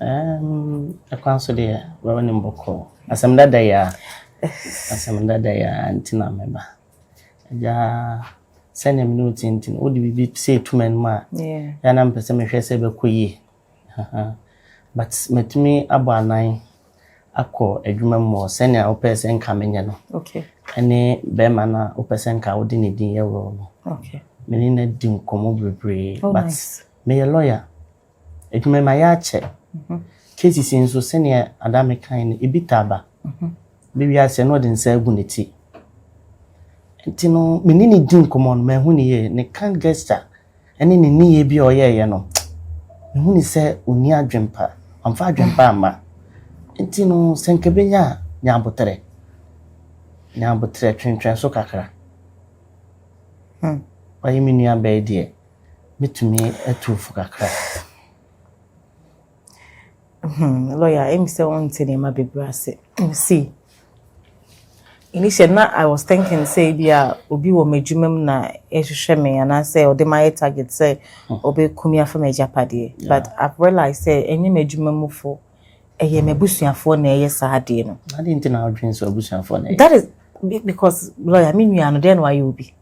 Ɛɛm, kwan so deɛ bɛwɔ ne mbɔkɔ. Asɛm dada yi a, asɛm dada yi a nti na meba. Agya, sɛnea me ne wo te nti no, wode biribi sɛ etu m'anim a, yɛ na mpɛ sɛ mehwɛ sɛ ɛbɛkɔ yie. But matumi abɔ anan akɔ adwuma mu wɔ sɛnea wopɛ sɛ nka menyɛ no. Okay. Ɛne bɛrima no a wopɛ sɛ nka wode ne din yɛ role no. Okay. Me ne no adi nkɔmmɔ bebree. Oh, but nice. meyɛ lawyer. Adwuma yi mayɛ akyɛ. Cases yi nso sɛdeɛ Adame kae no, ebi taa ba. Ebi wie aseɛ na ɔde nsa agu ne ti. Nti no, me ne no di nkɔmmɔ no, manhu no yie. Ne kind gesture ne ne nneyɛɛ bi a ɔyɛeɛ no, mehu no sɛ ɔnni adwempa. Wamfa adwempa amma. Nti no, sɛ nka ɛbɛnya a, nya aboterɛ. Nya aboterɛ, twentwɛn so kakra. Wayɛ me nuabaa yi deɛ. mɛtumi atu wo fo kakra. Hmm, lawyer, ɛmi sɛ wonte nneɛma bebree ase. See, initially na I was thinking sɛ bi a obi wɔ m'adwuma mu na ɛhwehwɛ me anaasɛ ɔde ma yɛ target sɛ hmm. ɔbɛku me afa m'agyapadeɛ. But I've realized sɛ ɛnyɛ m'adwuma mufo, ɛyɛ m'abusuafoɔ na ɛyɛ saa adeɛ no. Ade nti na adwene sɛ abusuafoɔ na ɛyɛ. That is because lawyer, me nua no, deɛ na wayɛ obi.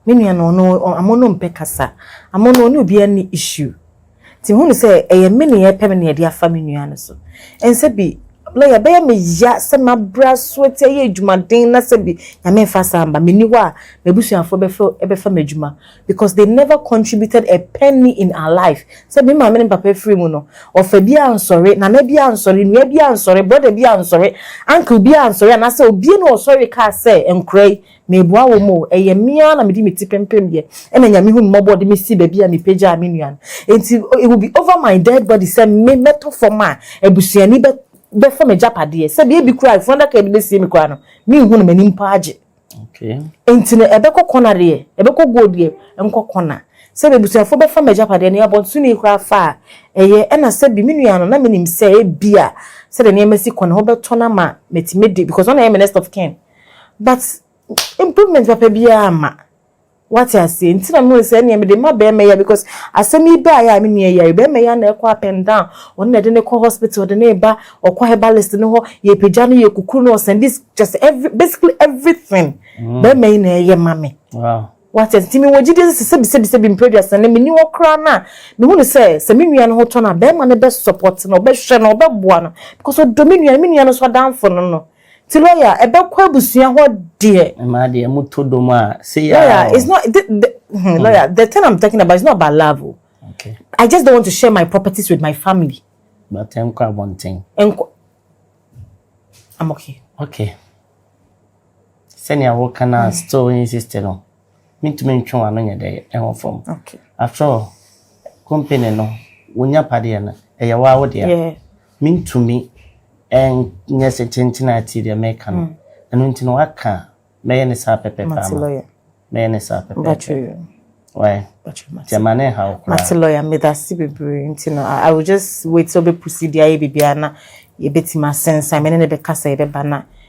Me nua no ɔno ɔmo no mpɛ kasa ɔmo no ɔne obiaa nni issue nti hu no sɛ ɛyɛ me nea ɛpɛ me nea ɛde afa me nua no so ɛnsɛ bi lawyer ɛbɛyɛ me ya sɛ mabra so ati ayɛ adwuma den na sɛ bi nyame nfa saa mma menni hɔ a m'abusuafoɔ bɛfa ɛbɛfa m'adwuma because they never contributed a penny in our life sɛ me maame ne papa afiri mu no ɔfa bi ansɔre nana bi ansɔre nua bi ansɔre brother bi ansɔre uncle bi ansɔre anaasɛ obie na ɔsɔre kaa sɛ nkora yi Meboa wɔn o, ɛyɛ me ara na mede me ti pempem yɛ, ɛna Nyame hu me mmɔbɔ ɔde me sii baabi a mepagyaa me nua no. Enti it will be over my dead body sɛ me mɛtɔ fam a abusuani bɛ bɛfa m'agyapadeɛ, sɛbi ebi koraa a efunuadaka a yɛde bɛsie me koraa no menhu no m'ani mpo agye. Enti no ɛbɛkɔ kɔna deɛ, ɛbɛkɔ goal deɛ, ɛnkɔ kɔna. Sɛbi abusuafoɔ bɛfa m'agyapadeɛ no, abɔntene yi koraa fa a ɛyɛ, ɛna sɛbi me nua no na menim sɛ ebia sɛdeɛ nneɛma si kɔ no, wobɛtɔ no ama matumi de, because ɔna ɛyɛ me next of kin. but improvement papa biara amma. Wate aseɛ? Nti na mehu sɛ ɛneɛ mede ma bɛrima yi a because asɛm yi baeɛ a me nua yare bɛrima yi a na ɛkɔ up and down ɔno na ɛde ne kɔ hospital ɔde ne ba ɔkɔ herbalist no hɔ yɛpagya no yɛkukuru no ɔsɛn this just every basically everything mm. bɛrima yi na ɛyɛ ma me. Wow wate ase ti mi wɔ gyidi sɛ sɛbi sɛbi sɛbi mpere duasa ne mi ni hɔ koraa no a mehu no sɛ sɛ me nua no ho tɔ no a bɛrima no bɛ support no ɔbɛhwɛ no ɔbɛboa no because ɔdɔ me nua me nua no so adanfo no no Nti lawyer ɛbɛkɔ abusua hɔ deɛ. Ɛmaa deɛ mo to dom a seyaa o. Lawyer it's not the the hmm lawyer the thing I'm talking about it's not about love o. Okay. I just don't want to share my properties with my family. But ɛnkɔ abɔnten. Ɛnkɔ I'm okay. Okay. Sɛnea woka no a still insist no. Mentumi ntwe w'ano nyɛ dɛ ɛho fam. After all, company no, wo nya pa deɛ no, ɛyɛ wo ara wo dea. Mentumi nyɛ sɛ tenten a tie deɛ meka no. Ɛno nti no waka a, mɛyɛ no saa pɛpɛpɛ ama wo. Mɛyɛ no saa pɛpɛpɛ. Why? Nti ɛma no nhaw koraa. Mate lawyer, medase bebree. Nti no, I will just wait sɛ ɔbɛpusi de ayɛ biribiara na yɛbɛtumi asensan. Me ne no bɛkasa yɛbɛba na.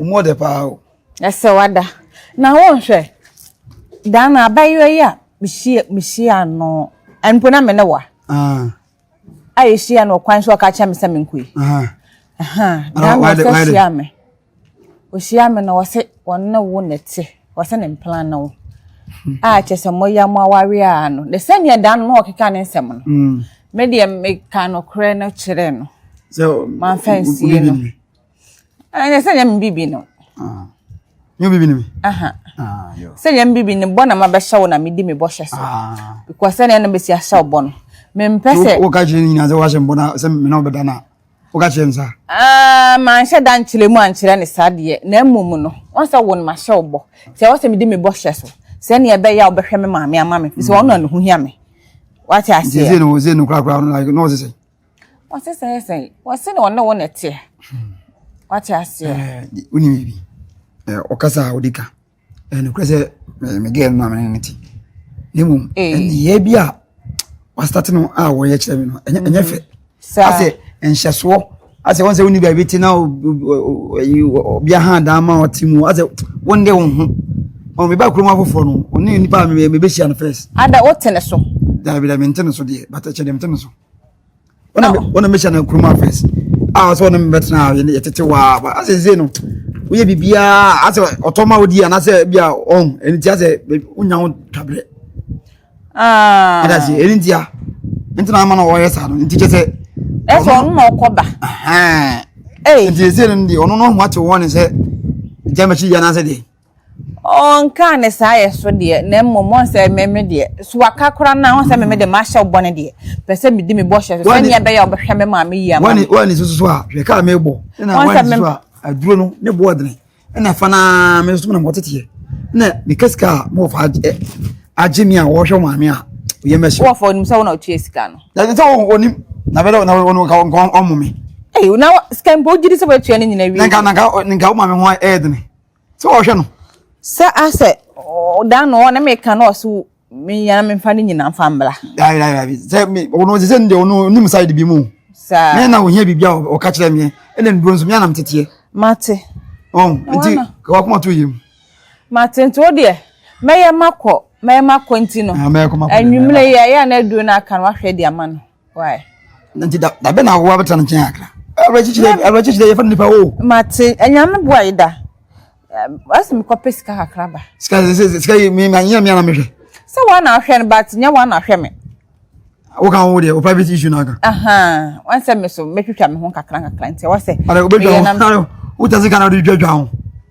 Mo de paa o. Ɛsɛ wada. Na wo nhwɛ. Dan na abayewa yi a mehyia mehyia no. Ɛnpo na me ne wa. Ah. A yɛhyia no kwan so ɔka kyerɛ me sɛ menkɔ yi. Aha. Aha. Dan na ɔsɛ hyia me. Ɔhyia me na ɔsɛ ɔne wo na ɛte. Ɔsɛ ne mplan na wo. Hmm. A kyɛ sɛ mo ya mo aware a no. De sɛnea dan no na ɔkeka ne nsɛm no. Hmm. Me deɛ meka nokorɛ no kyerɛ no. Sɛ manfa nsie no. ɛnyɛ sɛ nyɛ mbibi no nyɛ bibi no sɛ nyɛ mbibi no bɔ na mabɛhyɛ wo na medi me bɔhyɛ so because sɛdeɛ na bɛsi ahyɛ wo bɔ no mempɛ sɛ woka kyerɛ no nyinaa sɛ woahyɛ mbɔ no sɛ mena wobɛda no a woka kyerɛ no saa ah, manhyɛ da nkyerɛ mu ankyerɛ ne saa deɛ na mmom no wɔn sɛ wo no mahyɛ wo bɔ sɛ wɔ sɛ medi me bɔhyɛ so sɛ neɛ ɛbɛyɛ a wobɛhwɛ me maame ama me fi sɛ ɔno na ne ho hia me wate aseɛ no wɔ sɛ no korakora no na ɔsɛ sɛ Wɔsi sɛ yɛ sɛn? Wɔsi na ɔne wo na ɛteɛ. Hmm. Wate aseɛ? Wonim eh, biribi. Eh, ɔkasa a wode ka. Eh, nokorɛ sɛ megɛɛ no amene no te. Na mmom, ɛneyɛ eh. bi a wastate no a wɔyɛ kyerɛ me no, ɛnyɛ mm-hmm. fɛ. Asɛ nhyɛsoɔ asɛ wɔn sɛ wonni baabi te na ɔbea ha dan ma ɔte mu asɛ wɔn de wɔn ho wɔn meba kurom afoforɔ no ɔne nipa a mebɛhyia no first. ada wote ne so. dabi dabi nte ne so deɛ bata kyɛ deɛ nte ne so. ɔna ɔna mehyɛ no nkuruma first a ah, sɛ ɔne mebɛtena ah, yɛtete waa asɛ sei no woyɛ biribiaa asɛ ɔtɔ ma wodi anaasɛ bia ɔn ɛno nti asɛ wonya wo twaberɛ adase ɛno ntia nti na ama na ɔyɛ saa no nti kyɛ sɛ ɛsɛ ɔno na ɔkɔ ba nti ɛsɛ no deɛ ɔno no ho ate wɔne sɛ gyamɛkyi yɛ anaasɛ deɛ Ɔnkaa ne saa yɛ so deɛ, na mmom ɔn sɛ me me deɛ, so waka koraa no a, ɔn sɛ me me deɛ mahyɛ wo bɔne deɛ, pɛ sɛ medi me bɔhyɛ so, sɛdeɛ ɛbɛyɛ a wobɛhwɛ me maame yie ama me. Woane susu so a, hwɛ kaa mebɔ, ɛna woane susu a, aduro no ne boɔ dene, ɛna fa no ara me nso menam hɔ teteɛ, ɛna meka sika a mewɔ fa agye me a wɔhwɛ maame a oyɛ mɛhyɛ. Wɔfa onim sɛ wo na otua sika no. Na sɛ onim na bɛdɛ na wɔn nka nka ɔmo me. Eyi na sika mpo gyiri sɛ wɔatua ne nyina wie. Nanka nanka nka wo maame ho ɛyɛ dene. Sɛ ɔhwɛ no. Sɛ asɛ ɔda no ɔne me ka na ɔso me yana me fa ne nyina fa mbla. Ya ya ya. Sɛ me ɔno sɛ nde ɔno nim side bi mu. Sa. Me na ohia bibia ɔka kyerɛ me. Ɛna nduro nso me anam teteɛ. Mate. Oh, nti kawa kuma to yim. Mate nti wo deɛ mɛyɛ makɔ mɛyɛ makɔ nti no. Ah, mɛyɛ kɔ makɔ. Anwumire yɛ yɛ na aduro na aka no ahwɛ de ama no. why. nti da da bɛ na awowa bɛtena ne nkyɛn akra awerɛkyekyerɛ awerɛkyekyerɛ yɛfa no nipa o. mate anyame boa yi da ɔsi mi kɔpɛ sika kakra ba. sika sika sika yi mi ma nyɛ mi ana mi hwɛ. sɛ wɔn na ahwɛ no ba te nyɛ wɔn na ahwɛ mi. o kan wo deɛ o private issue na kan. wɔn sɛ mi so mɛtwitwa mi ho kakra kakra nti wɔn sɛ. ɔdɛ o bɛ twa ho o tɛ se kan na o de twa twa ho.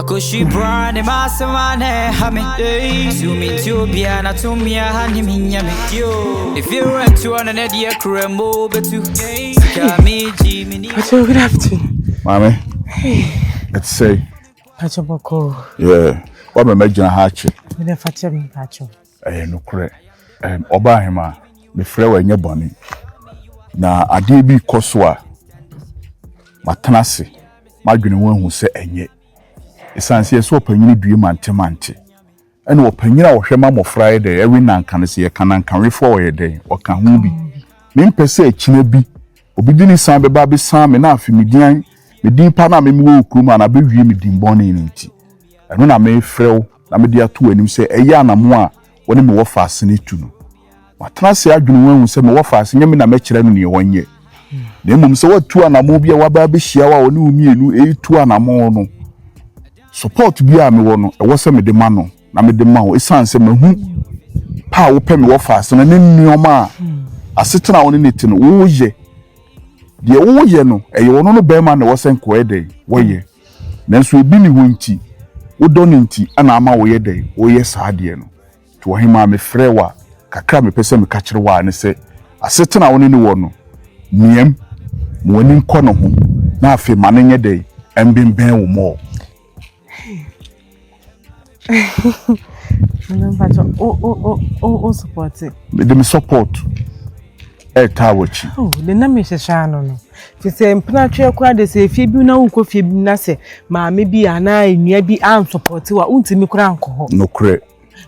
Akoshi bra ne m'asɛm a na ɛha me Sɛ menti obiara na to me aha ne menya me Efie wura ntuo no na deɛ kura mu bɛtu Sika megye me ni Pacho, good afternoon. Maame, ɛte sɛ yi. Pacho bɔkɔ. Yeah, wabɛn mɛgyina ha akyɛ. Mede fakyɛ me Pacho. Ɛyɛ nokorɛ, ɛɛ ɔbaahemaa, mefrɛ wo ɛnyɛ bɔne, na adeɛ bi rekɔ so a, matena ase, madwene ho ahu sɛ ɛnyɛ. Ɛsiane sɛ yɛsɛ ɔpanyini due mantemante, ɛna ɔpanyini a ɔhwɛ ma mmɔfra yɛ dɛn, ɛwe nanka no, sɛ yɛka nankawefoɔ a ɔyɛ dɛn, ɔka ho bi. Mempɛ sɛ akyina bi, obi de ne san bɛba abɛsiane me na afei me din, me din pa no a me mewɔ wɔ kurom ha no abɛwie me din bɔne no nti. Ɛno na merefrɛ wo. na mede ato w'anim sɛ ɛyɛ anammɔn a wo ne me wɔ faase no tu no. Watena ase adwene ho ahu sɛ mewɔ faase, nyɛ me na mɛkyerɛ no nea ɔnyɛ, na mmom sɛ watu anammɔn bi a waba abɛhyia wo a ɔne wo mmienu retu anammɔn no. Support biara a mewɔ no, ɛwɔ sɛ mede ma no na mede ma wo esiane sɛ mahu pɛ a wopɛ me wɔ faase no ne nneɛma a asetena a wo ne no te no woyɛ. Deɛ woyɛ no, ɛyɛ ɔno no barima na ɛwɔ sɛ nkoa yɛ dɛn? Wɔyɛ. Nanso ebi ne hɔ nti, wo dɔ no nti na ama wo yɛ dɛn, wo yɛ saa adeɛ no. To ɔhemaa me frɛ wo a, kakra a me pɛ sɛ me ka kyerɛ wo ara ne sɛ, asetena a wo ne no wɔ no, miam, ma w'ani nkɔ ne ho, na afei ma no nyɛ dɛn, ɛmbenbɛn wo more. mede me support ɛtaa w'akyi. Oh, de na mehyehyɛ ano no te sɛ mpenatweɛ koraa de sɛ efie bi na wokɔ fie bi na sɛ maame bi anaa nnua bi ansopɔte wa wontumi koraa nkɔ hɔ. nokorɛ.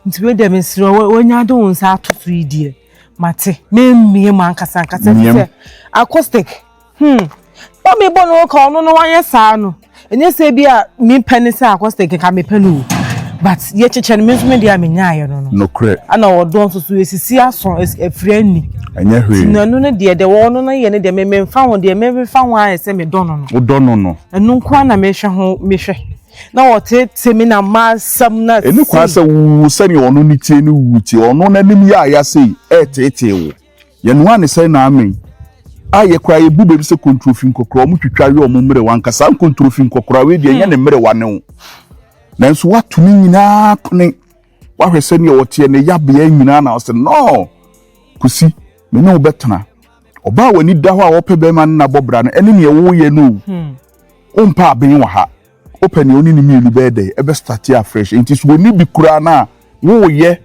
nti wei deɛ mesrɛ wanya de wo nsa ato so yi deɛ mate memmie mu ankasa ankasa sɛ acoustic Hmm, na mebɔ no ka ɔno no wanyɛ saa no ɛnyɛ sɛ bi a mepɛ ne sɛ akɔsɛ keka mepɛ no o but yɛkyekyɛ no me nso medeɛ a menyaeɛ no no nokorɛ ana ɔdɔ nso so ɛsisi aso afiri anni ɛnyɛ hwee nti ɛno no deɛ deɛ ɔno no yɛ no deɛ mememfa ho deɛ memefa ho ayɛ sɛ medɔ no no wodɔ no no ɛno nko a na mehwɛ ho mehwɛ na ɔtete me na masɛm na ɛne kwa sɛ wo sɛdeɛ ɔno ne tie no wu tie ɔno n'anim yɛ ayɛ sɛ ɛtetee wo Yɛnoa ne sɛ na amee. A yɛ koraa yɛbu baabi sɛ kontrofi nkɔkoraa, wɔn twitwa we wɔn mmerewa, anka saa nkontrofi nkɔkoraa wei deɛ ɛnyɛ ne mmerewa ne wo. Nanso woato ne nyinaa pene, woahwɛ sɛdeɛ wɔteɛ, ne yabea nyinaa na ɔsɛ nɔɔ. Kosi, me ne wo bɛtena. Ɔbaa a w'ani da hɔ a ɔpɛ bɛrima no na bɔ bra no, ɛne neɛ woyɛ no o. Wompɛ aben wɔ ha. Wopɛ nea ɔne ne mmienu bɛyɛ dɛn? Ɛbɛ starte afresh. Enti sɛ ɔnni bi koraa no a, woreyɛ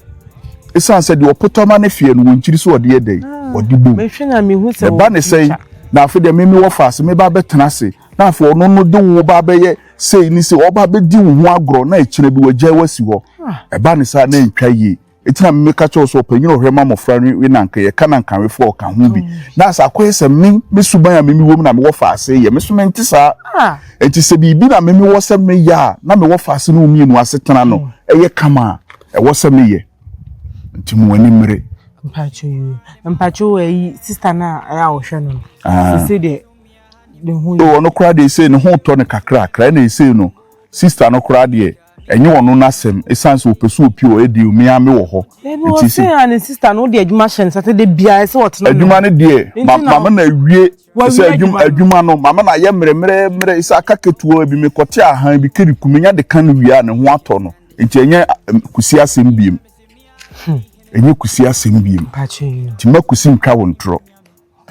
esiane sɛ deɛ ɔpotɔ ma no feɛ no, wɔnkyiri sɛ ɔde yɛ dɛn? Ɔde bom. Ne ba ne sɛn? Na afei deɛ me mewɔ fa ase, meba abɛtena ase, na afei ɔno no de wo ba abɛyɛ sei ne sei, ɔba abɛdi wo ho agorɔ, na akyire bi wagyae wo asi hɔ. Ɛba no saa a, na ɛntwa yie. Eti na meka kyerɛ wo sɛ ɔpanyin a ɔhwɛ ma mmofra no we na anka yɛka na anka awefo a ɔka ho bi. Na sɛ akɔyɛ sɛ me, me suban a meme wɔ mu na mewɔ fa ase yɛ, me so mente saa. Enti sɛ biribi na meme wɔ sɛ meyɛ a na mewɔ fa ase ne wo mmienu asetena no yɛ kama a, ɛwɔ sɛ meyɛ. Enti mo ani mmere. Mpakyɛw yi, mpakyɛw ayi sista no a ɛyɛ a ɔhwɛ no no, sese deɛ ne ho yɛ. Ɔno koraa deɛ ɛsei ne ho tɔ no kakrakra, ɛna ɛsei no sista no koraa deɛ. Ɛnyɛ ɔno n'asɛm ɛsiane sɛ ɔpɛ sɛ ɔpie ɔyɛ deal me ara me wɔ hɔ Baby nti ɔse a ne sister no wode adwuma hyɛ nsa sɛ dabiaa ɛsɛ ɔtena ne hɔ Adwuma no deɛ ma mama no awie ɛsɛ adwuma adwuma no mama no ayɛ mmerɛ mmerɛ mmerɛ ɛsɛ aka ketewa bi mekɔte ahan bi kiriku menya de ka no wie a ne ho atɔ no nti ɛnyɛ kusi asɛm biem ɛnyɛ kusi asɛm biem nti mma kusi ntwa wo ntorɔ.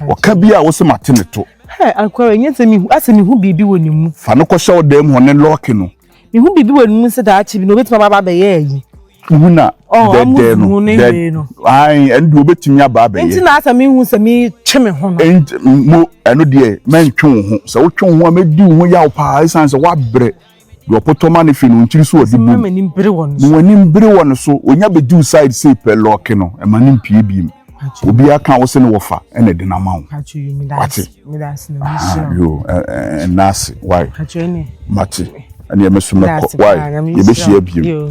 Ɔka bi a wo se mate ne to. Hɛ, akwara, ɛnyɛ sɛ mehu, asɛ mehu biribi wɔ ne mu. Fa no kɔhyɛ wo dan mu hɔ ne lɔɔke no. Mehu biribi wɔ ne mu sɛ daakye bi no, obɛtumi aba abɛyɛ ayi. Mehu na dɛdɛɛ no, dɛdɛɛ no. Ae, ɛno deɛ obɛtumi aba abɛyɛ. Nti na asɛ mehu sɛ metwe me ho no. Nti, mo, ɛno deɛ, mɛntwe wo ho. Sɛ wotwe wo ho a, mɛdi wo ho yaw paa, ɛsiane sɛ woabrɛ. Deɛ ɔpotɔ ma no hwe no nkyiri so ɔde bom Ma w'anim bere wɔ no so Ɔnya bɛduru side sei pɛ lɔɔke no Ɛma no mpue biem Obiara ka wo se ne wɔfa ɛna ɛde no ama wo Wate? Aha yo ɛnna ase why Mate ɛneɛ me so mɛkɔ why Yɛbɛhyia biem.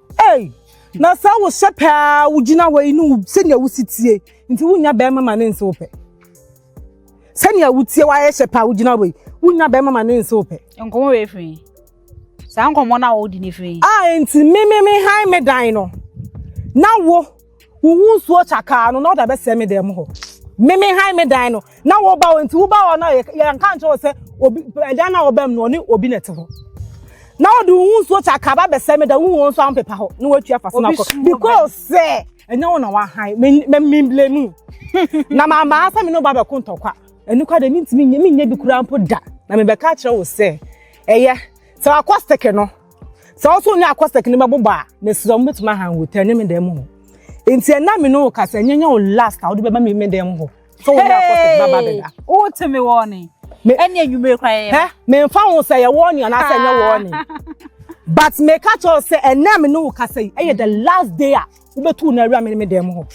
Ei, na sɛ wo hyɛ pɛ a wogyina hɔ yi ne wo sɛnea wosi tie nti wonya bɛrima ma ne nse wo pɛ sɛnea wotie wayɛ hyɛ pɛ a wogyina hɔ yi wonya bɛrima ma ne nse wo pɛ. nkɔmɔ wei firi saa nkɔmɔ no a wɔdi ne firi. a nti me me me han me dan no na wo. Wo wo nsuo kyakaa no na ɔda bɛsɛ me dan mu hɔ. Me me han me dan no na wo ba wɔn ti wo ba hɔ na yɛn ka nkyɛn wɔ sɛ obi ɛdan na ɔbɛm no ɔne obi na ɛte hɔ. Na ɔde wo wo nsuo kyakaa ba bɛsɛ me da wo wɔn nso ampepa hɔ na wɔatwa fa so na kɔ because sɛ ɛnyɛ wɔn na wahan me me me blame na maa maa sɛ me no ba bɛko ntɔkwa ɛnu kwa de mi ntumi nye mi nye bi kura mpo da na me bɛka kyerɛ wo sɛ ɛyɛ sɛ wakɔ seke no. sɛ wo so ne akɔsɛk no bɛbobɔ a mesrɛ mo bɛtumi aha hotel ne me dan mu hɔ nti ɛna me ne wo kasa ɛnyɛ nyɛ wo last a wode bɛba me me dan mu hɔ sɛ wo ne akɔsɛk bɛba bɛda wote me wɔne ɛne anwummere kora yɛyɛ memfa ho sɛ yɛ wɔne anaasɛ ɛnyɛ wɔne but meka kyerɛ sɛ ɛna me ne wo kasa yi ɛyɛ the last day a wobɛtu no awura me ne me dan mu hɔ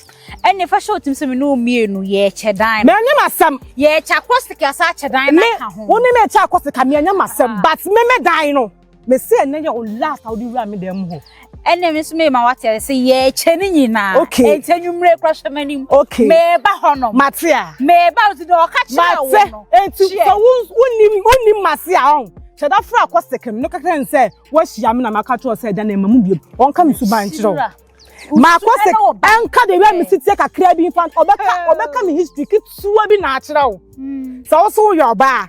ɛne fa hyɛ wotim sɛ me ne wo mmienu yɛkyɛ dan no menyɛ masɛm yɛkyɛ akɔsɛk asa akyɛ dan no aka ho wo ne me ɛkyɛ akɔsɛk a menyɛ masɛm but me me dan no mese ɛnɛ yɛ o last a wode wura me dan mu hɔ ɛnna mi nso mema wate ase sɛ yɛkyɛ ne nyinaa okay ɛkyɛ nwumire kura hyɛ m'anim okay meba hɔ no mate a meba hɔ ti na ɔka kyerɛ wɔn no mate eti sɛ wonim wonim mase a ɔn sɛ da fura akɔ sɛkɛm no kakra ne sɛ wɔahyia me na maka kyerɛ sɛ ɛda na ɛma mu biem ɔnka me suban nkyerɛ wo maakɔ sɛ ɛnka de wia me siteɛ kakra bi mfa ɔbɛka ɔbɛka me history ketewa bi na akyerɛ wo hmm. sɛ wo so woyɛ ɔbaa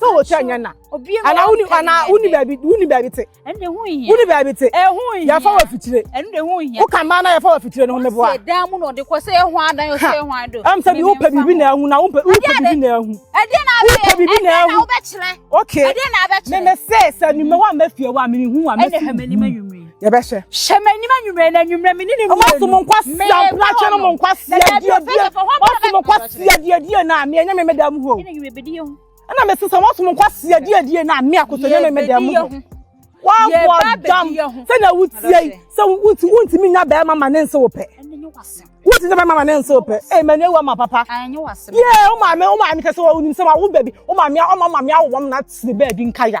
sɛ wɔ kyɛ nyɛ na ana wuni ana wuni baabi wuni baabi te wuni baabi te yɛfa wɔ fitire wo ka mmaa na yɛfa wɔ fitire no ho meboa ɛm sɛ bi wopɛ biribi na ahu na wopɛ biribi na ahu wopɛ biribi na ahu ok meme se sɛ nimɛ wa mɛfie wa mene hu wa mɛfi yɛbɛhwɛ. hyɛ m'anim anwummerɛ na anwummerɛ me ne ne mmienu ɔmaso mo nkwasia mplatwe no mo nkwasia diadie ɔmaso mo nkwasia diadie na me ɛnyɛ me meda mu hɔ ɛna me sesa ɔmaso mo nkwasia diadie na me akoto ɛnyɛ me meda mu hɔ wɔabɔ dam sɛnea wotie yi sɛ wonti wontumi nya bɛrima ma ne nse wo pɛ wonti sɛ bɛrima ma ne nse wo pɛ ee mɛ ne ewu ama papa yee wo maame wo maame kɛse wɔ onim sɛ wa wo baabi wo maame ɔma maame awowam na tiri baabi nkaya.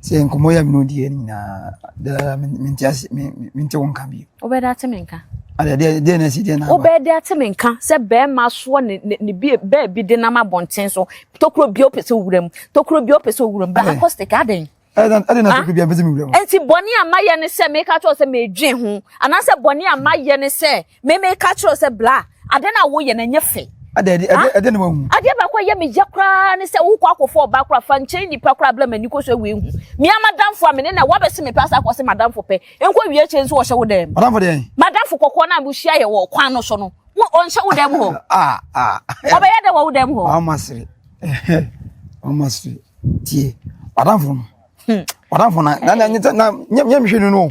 Sɛ nkɔmmɔ yɛ mene odiɛ no nyinaa daa mente ase mente wo nka bio. Wobɛda ate me nka. Adeɛ deɛ deɛ na ɛsi deɛ na aba. Wobɛda ate me nka sɛ bɛrima soɔ ne ne ne bie baabi de nam abɔnten so tokuro bia ɔpɛ sɛ owura mu tokuro bia ɔpɛ sɛ owura mu bɛ acoustic adɛn. Ɛde na tokuro bia mpɛ sɛ mewura mu. Nti bɔne a mayɛ ne sɛ meka kyerɛ sɛ medwen ho anaasɛ bɔne a mayɛ ne sɛ Me me ka kyerɛ sɛ bla ade na woyɛ na nyɛ fɛ. Ade ade ade ade na wahu. Ade ba kwa yɛ me ya koraa ne sɛ wokɔ akɔfo ɔba koraa fa nkyɛn nipa koraa bla m'ani kɔ so awie hu. Me ama damfo a me ne na wabɛse me pɛ asa akɔ se madamfo pɛ nkɔ wie akyɛ nso ɔhyɛ wo dɛm. Madamfo deɛn? Madamfo kɔkɔɔ na mo hyia yɛ wɔ kwan no so no wo ɔnhyɛ wo dɛm hɔ. Ah ah. Ɔbɛyɛ dɛ wɔ wo dɛm hɔ. Ɔma sere. Ɔma sere. Tie. Madamfo no. Madamfo na na na nyɛ nyɛ mhwe no no.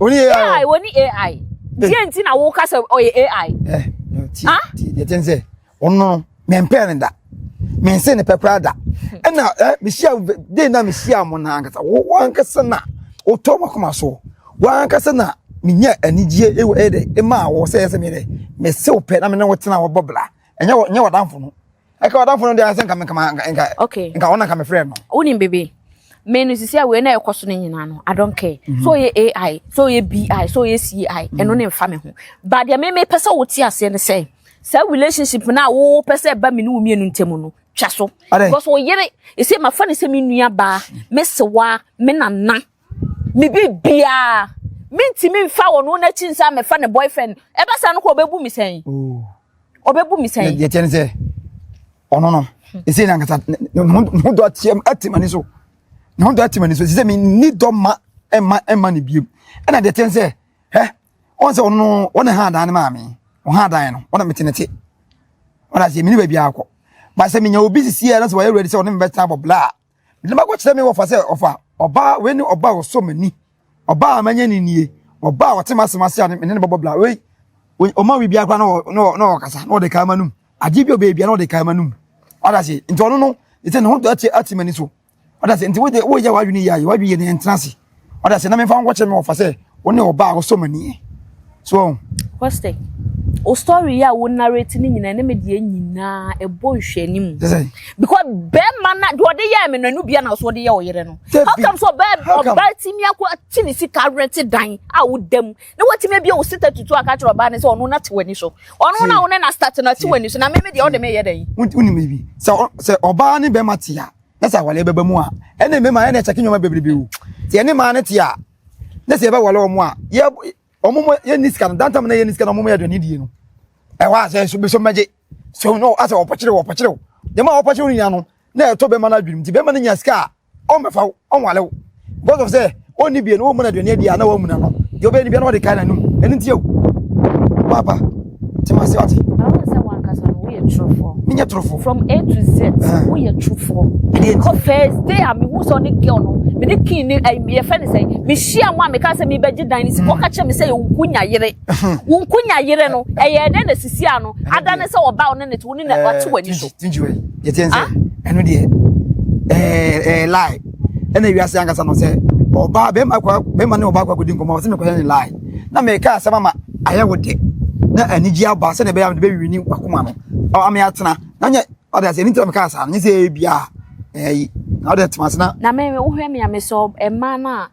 Oni AI. AI oni AI. Diẹ eh. nti na wo kasa ɔyɛ AI. Ɛ eh, ti ah? ti yɛ ti n sɛ ɔno mɛ n pɛ ne da mɛ n se ne pɛ kura da ɛna hmm. ɛ eh, mi si a den na mi si a mo na ankasa wo wo ankasa na o tɔ ma kɔma so wo ankasa na mi nya anigye ewu ɛyɛ dɛ ema awɔ sɛ ɛsɛ mi dɛ mɛ se o pɛ na mi ne wo tena wɔ bɔ bla ɛnyɛ wɔ ɛnyɛ wɔ danfo no. ɛka ɔdamfo no deɛ sɛ nka nka nka okay nka ɔna nka me frɛ no wonim bebe me no sisi a wei na ɛkɔ so no nyinaa no i don't care mm -hmm. so ɔyɛ ai so ɔyɛ bi so ɔyɛ ci ɛno mm -hmm. ne mfa me ho ba deɛ meme pɛ sɛ wote aseɛ no sɛ saa relationship no a wopɛ sɛ ɛba me ne wo mmienu ntam no twa so because ɔyere ɛsɛ mafa ne sɛ me nua baa me sewa me nana me biribiara mentumi mfa wɔn no n'akyi nsa mɛfa ne boyfriend ɛba saa no kɔ ɔbɛbu mi sɛn ɔbɛbu mi sɛn. yɛ kyɛn ne sɛ ɔno no ɛsɛ na nkasa ne ho dɔ ateam atim ani so ne ho dɔ atim ani so ɛsɛ sɛ menni dɔ ma ɛma ɛma ne biem ɛna deɛ kyɛn sɛ hɛ ɔn sɛ ɔno no ɔne ha adan ne maame ɔha adan no ɔna mete ne te ɔna sɛ mene baabi akɔ ba sɛ menya obi sisi a na sɛ wɔyɛ ready sɛ ɔne me bɛtena abɔ bla a na makɔ kyerɛ me wɔfa sɛ ɔfa ɔbaa wei ne ɔbaa ɔsɔ m'ani ɔbaa a manya ne nie ɔbaa a ɔte m'asɛm ase a ne ne bɔbɔ bla wei ɔma wi biara koraa na ɔkasa na ɔde kaa ma num agye bi ɔbɛɛ biara na ɔde kaa ma num ɔda se nti ɔno no ɛsɛ ne ho ate ate m'ani so ɔda se nti woyɛ w'adwene yɛ ayɛ w'adwene yɛ ne ɛntena ase ɔda sɛ na memfa wo nkɔkyerɛ me wɔfa sɛ wo ne ɔbaa a wosɔ m'ani ɛ so ɔho Kɔstɛ, o story yi a wo narrate ne nyinaa ne me deɛ nyinaa ɛbɔ nhwɛni mu because bɛrima na deɛ ɔde yɛɛ me no ɛno bia na so ɔde yɛ wo yere no how come so ɔbaa ɔbaa timi akɔ akyi ne sika rente dan a woda mu na watumi abia wo sita tutu aka kyerɛ ɔbaa ne sɛ ɔno na te w'ani so ɔno na wo ne na start na te w'ani so na me me deɛ ɔde me yɛ dɛn wonim bi sɛ ɔbaa ne bɛrima te a na sɛ awale bɛba mu a ɛne mmarima ɛna ɛkyɛke nneɛma bebrebe o sɛ yɛne mmaa no te a na sɛ yɛbɛwale wɔn a yɛ wɔn mo yɛnni sika no dantam na yɛnni sika no wɔn mo yɛ aduane die no ɛhɔ a sɛ so bɛsɔ mmɛgye so no asɛ wɔpɔkyere wɔpɔkyere nneɛma a wɔpɔkyere no nyinaa no na ɛtɔ bɛma no adwenem nti bɛma no nya sika a ɔmmɛfa ɔnwale wo because of sɛ ɔnni bie no wɔmmu no aduane adi a na wɔamu no ano deɛ ɔbɛyɛ no bia na wɔde kae n'anom ɛno nti o papa te ma se wate menyɛ torofoɔ from a to z woyɛ torofoɔ kɔ first day a mehu sɛ ɔne girl no mene kin ne yɛfɛ ne sɛ mehyia mu a meka sɛ mebɛgye dan no si kɔka kyerɛ me sɛ yɛwonku nya yere wonku nya yere no ɛyɛ dɛn na sisi a no ada ne sɛ wɔba wo ne ne te wo ne na wate w'ani so ɛno deɛ ɛɛ lie ɛna wiase ankasa no sɛ ɔbaa bɛrima akɔ bɛrima ne ɔbaa akɔ akɔdi nkɔmɔ ɔsɛ mekɔyɛ ne lie na meka asɛm ama ayɛ wo de na anigye aba sɛ na ɛbɛyɛ a mede bɛwiwi ne wakoma no ɔma me atena na nyɛ ɔde asɛ ɛni nti na meka saa no nyɛ sɛ ɛyɛ bia ɛyi na ɔde atema ase na na me wohwɛ me a mesɛ ɛma no a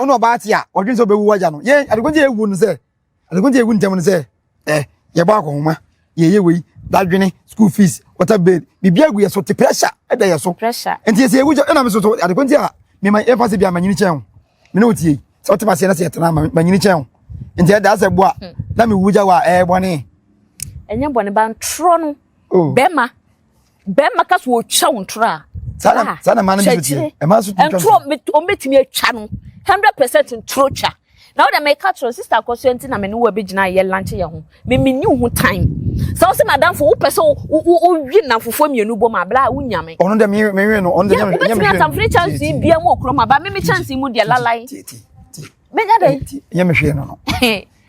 ɔno ɔbaa te a ɔdwene sɛ ɔbɛwu wagya no yɛn adekunti yɛ ewu no sɛ adekunti yɛ ewu ntɛm no sɛ ɛ eh, yɛbɔ akɔhoma yɛyɛ wei dadwene school fees water bill biribi agu yɛ so te pressure ɛda yɛ so nti yɛsɛ ewu gya ɛna mi so so adekunti a mema yɛn fa se bi a manyini kyɛn o mene o tie sɛ ɔte ma seɛ na seɛ tena manyini kyɛn o nti ɛda asɛ boa hmm. na mi wu gya wa ɛɛ bɔne. ɛnyɛ bɔne ba ntorɔ no oh. bɛma bɛrima ka so ɔtwa wo ntorɔ a saa saa na mmaa no bi so teɛ mmaa so tumi twa ntorɔ ɔmɛtumi atwa no hundred percent ntorɔ twa na ɔdɛ mɛka kyerɛ sista akɔso nti na mene wo abɛgyina yɛ lanche yɛ ho memeni wo ho time sɛ wo sɛ madamfo wopɛ sɛ wowi nnamfofoɔ mmienu bɔ ma abla a wonyame ɔno dɛ mewe no ɔno dɛ nyame hwɛ wobɛtumi atamfere kyansi bia mu ɔkurɔ ma ba meme kyansi mu deɛ lalae menya dɛ nyame hwɛ no no